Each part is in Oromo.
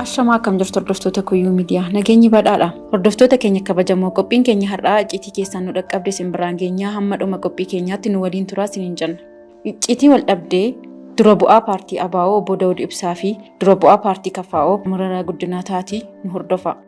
Ashamaa akkam jirtu hordoftoota Kuyyuu Miidiyaa. Nageenyi badhaadha. Hordoftoota keenya kabajamoo qophiin keenya har'aa icciitii keessaan nu dhaqqabde isin biraan geenyaa hamma dhuma qophii keenyaatti nu waliin turaa isiniin jenna. Icciitii wal dhabdee dura bu'aa paartii ABO obbo Dawud Ibsaa fi dura bu'aa paartii KFO Mararaa Guddinaa taatii nu hordofaa.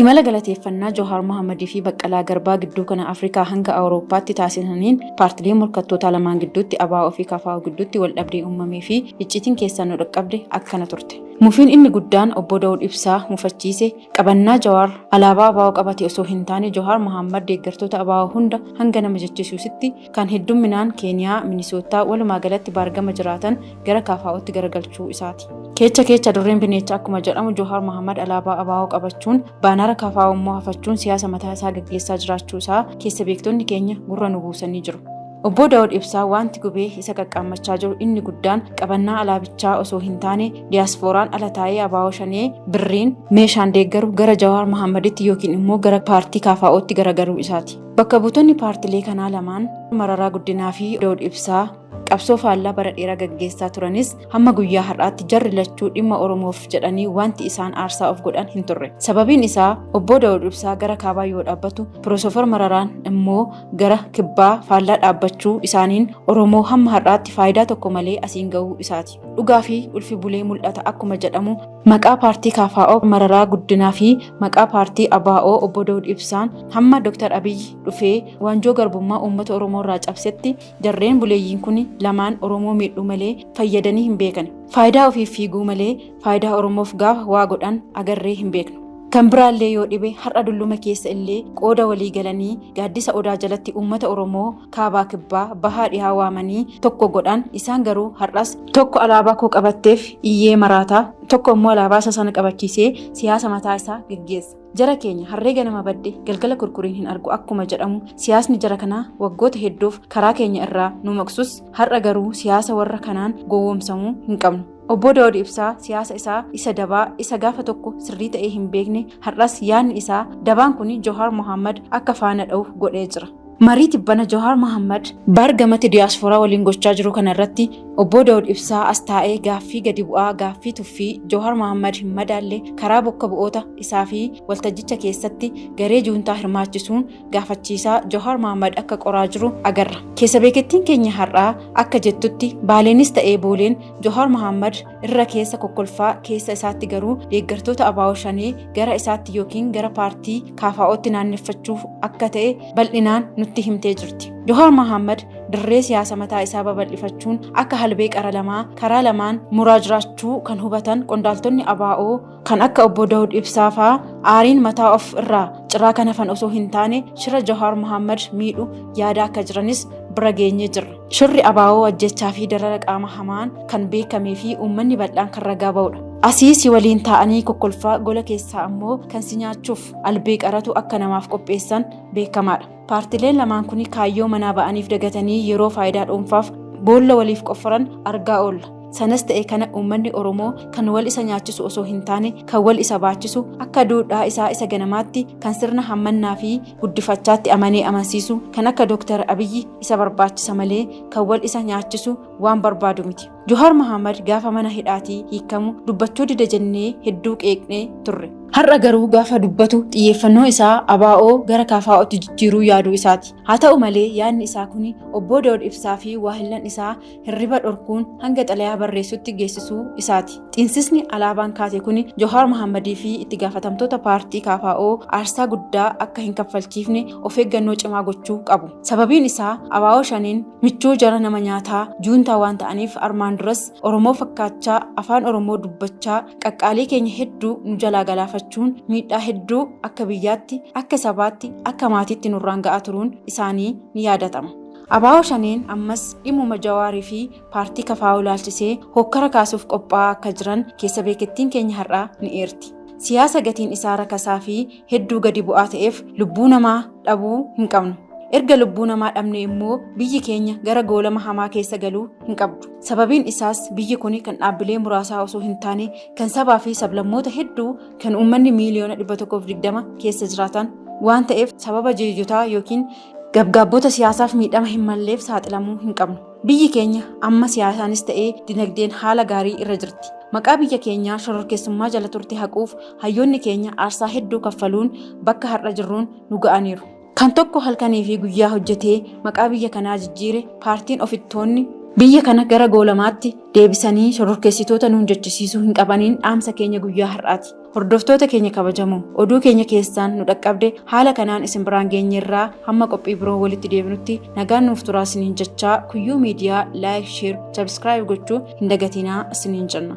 Imala galateeffannaa Jawaar Mohaammadii fi Baqqalaa Garbaa gidduu kana Afrikaa hanga Awurooppaatti taasisaniin paartilee morkattootaa lamaan gidduutti ABO fi KFO gidduutti waldhabdee uumamee fi icciitiin keessaan nu dhaqqabde akkana turte. Mufiin inni guddaan Obbo Dawud Ibsaa mufachiise qabannaa Jawaar alaabaa ABO qabate osoo hin taane Jawaar Mohaammad deeggartoota ABO hunda hanga nama jechisiusitti kan heddumminaan Keeniyaa, Minisoottaa, walumaa galatti baargama jiraatan gara KFOtti garagalchuu isaati. Keecha keecha adurreen bineecha akkuma jedhamu Johaar Mohammad alaabaa ABO qabachuun baanara KFO immoo hafachuun siyaasa mataa isaa gaggeessaa jiraachuu isaa keessa beektonni keenya gurra nu buusanii jiru. Obboo Daawud Ibsaa wanti gubee isa qaqqaammachaa jiru inni guddaan qabannaa alaabichaa osoo hin taane diyaasfooraan ala taa'ee abaa'oo shanee birriin meeshaan deeggaru gara Jawaar Mahaammaditti yookiin immoo gara paartii KFOtti garagaruu isaati. Bakka buutonni paartilee kanaa lamaan Mararaa Guddinaa fi Daawud Ibsaa qabsoo faallaa bara dheeraa gaggeessaa turanis hamma guyyaa har'aatti jarri lachuu dhimma Oromoof jedhanii wanti isaan aarsaa of godhan hin turre. Sababiin isaa obboo Daawud Ibsaa gara kaabaa yoo dhaabbatu Pirofeesar Mararaan immoo gara kibbaa faallaa dhaabbachuu isaaniin Oromoo hamma har'aatti faayidaa tokko malee asiin gahuu isaati. Dhugaa fi ulfi bulee mul'ata akkuma jedhamu maqaa paartii KFO Mararaa Guddinaa fi maqaa paartii ABO obbo Dawud Ibsaan hamma Dr. Abiy dhufee waanjoo garbummaa uummata Oromoo irraa cabsetti jarreen buleeyyiin kun lamaan Oromoo miidhuu malee fayyadanii hin beekan. Faayidaa ofiif fiiguu malee faayidaa Oromoof gaafa waa godhan agarree hin beeknu. Kan biraallee yoo dhibe har'a dulluma keessa illee qooda walii galanii gaaddisa odaa jalatti uummata Oromoo kaabaa kibbaa bahaa dhihaa waamanii tokko godhaan isaan garuu har'as tokko alaabaa koo qabatteef iyyee maraataa tokko immoo alaabaa isa sana qabachiisee siyaasa mataa isaa geggeessa. Jara keenya harree ganama badde galgala kurkuriin hin argu akkuma jedhamu siyaasni jara kanaa waggoota hedduuf karaa keenya irraa nu maqsus har'a garuu siyaasa warra kanaan gowwoomsamuu hin qabnu. Obboo Daawud Ibsaa siyaasa isaa isa dabaa isa gaafa tokko sirrii ta'ee hin beekne har'as yaadni isaa dabaan kun Johaar Mohaammed akka faana dha'u godhee jira. Marii tibbana Johaar Mohaammed baargamatti diyaaspooraa waliin gochaa jiru kana irratti Obboo Daawud Ibsaa as taa'ee gaaffii gadi bu'aa gaaffii tuffii Johaar Mohaammed hin madaalle karaa bokka bu'oota isaa fi waltajjicha keessatti garee juuntaa hirmaachisuun gaafachiisaa Johaar Mahaammad akka qoraa jiru agarra. Keessa beekettiin keenya har'aa akka jettutti Baaleenis ta'ee Booleen Johaar Mahaammad irra keessa kokkolfaa keessa isaatti garuu deeggartoota abaa'oo shanee gara isaatti yookiin gara paartii kaafaa'ootti naanneffachuuf akka ta'e bal'inaan nutti himtee jirti. Johaar Mahaammad dirree siyaasa mataa isaa babal'ifachuun akka halbee qara lamaa karaa lamaan muraa jiraachuu kan hubatan qondaaltonni abaa'oo Kan akka obbo Dawud Ibsaa fa'aa aariin mataa of irraa ciraa kan hafan osoo hin taane shira Jawaar Mohaammed miidhu yaada akka jiranis bira geenyee jirra. Shirri abaawoo ajjechaa fi darara qaama hamaan kan beekamee fi uummanni bal'aan kan ragaa ba'udha. Asii si waliin taa'anii kokkolfaa gola keessaa ammoo kan si nyaachuuf albee qaratu akka namaaf qopheessan beekamaadha. Paartileen lamaan kun kaayyoo manaa ba'aniif dagatanii yeroo faayidaa dhuunfaaf boolla waliif qofforan argaa oolla. Sanas ta'e kana uummanni Oromoo kan wal isa nyaachisu osoo hin taane kan wal isa baachisu akka duudhaa isaa isa ganamaatti kan sirna hammannaa fi guddifachaatti amanee amansiisu kan akka Dooktar Abiyyi isa barbaachisa malee kan wal isa nyaachisu waan barbaadu miti. Johaar Mahaamad gaafa mana hidhaatii hiikamu dubbachuu dida jennee hedduu qeeqnee turre. Har'a garuu gaafa dubbatu xiyyeeffannoo isaa ABO gara KFO'tti jijjiiruu yaaduu isaati. Haa ta'u malee yaadni isaa kun Obbo Daawud Ibsaa fi waahillan isaa hirriba dhorkuun hanga xalayaa barreessutti geessisuu isaati. Xiinsisni alaabaan kaase kun Johaar Mahaammadii fi itti gaafatamtoota paartii KFO aarsaa guddaa akka hin kaffalchiifne of eeggannoo cimaa gochuu qabu. Sababiin isaa ABO shaneen michuu jara nama nyaataa juuntaa waan ta'aniif armaan duras Oromoo fakkaachaa afaan Oromoo dubbachaa qaqqaalii keenya hedduu nu jalaa galaafachuun miidhaa hedduu akka biyyaatti akka sabaatti akka maatiitti nurraan ga'aa turuun isaanii ni yaadatama. Abaawoo Shaneen ammas dhimmuma Jawaarii fi paartii kafaa'uu ilaalchisee hookkara kaasuuf qophaa'aa akka jiran keessa beekettiin keenya har'aa ni eerti. Siyaasa gatiin isaa rakasaa fi hedduu gadi bu'aa ta'eef lubbuu namaa dhabuu hin qabnu. Erga lubbuu namaa dhabne immoo biyyi keenya gara goolama hamaa keessa galuu hin qabdu. Sababiin isaas biyyi kun kan dhaabbilee muraasaa osoo hin taane kan sabaa fi sablammoota hedduu kan uummanni miiliyoona 120 keessa jiraatan waan ta'eef sababa jeejotaa yookiin gabgaabbota siyaasaaf miidhama hin malleef saaxilamuu hin qabnu. Biyyi keenya amma siyaasaanis ta'ee dinagdeen haala gaarii irra jirti. Maqaa biyya keenyaa shororkeessummaa jala turte haquuf hayyoonni keenya aarsaa hedduu kaffaluun bakka har'a jirruun nu ga'aniiru. Kan tokko halkanii fi guyyaa hojjetee maqaa biyya kanaa jijjiire paartiin ofittoonni biyya kana gara goolamaatti deebisanii shororkeessitoota nuun jechisiisuu hin qabaniin dhaamsa keenya guyyaa har'aati. Hordoftoota keenya kabajamoo oduu keenya keessaan nu dhaqqabde haala kanaan isin biraan geenyerraa hamma qophii biroo walitti deebinutti nagaan nuuf turaa isiniin jechaa kuyyuu miidiyaa laayik sheer sabskiraayib gochuu hin dagatinaa isiniin jenna.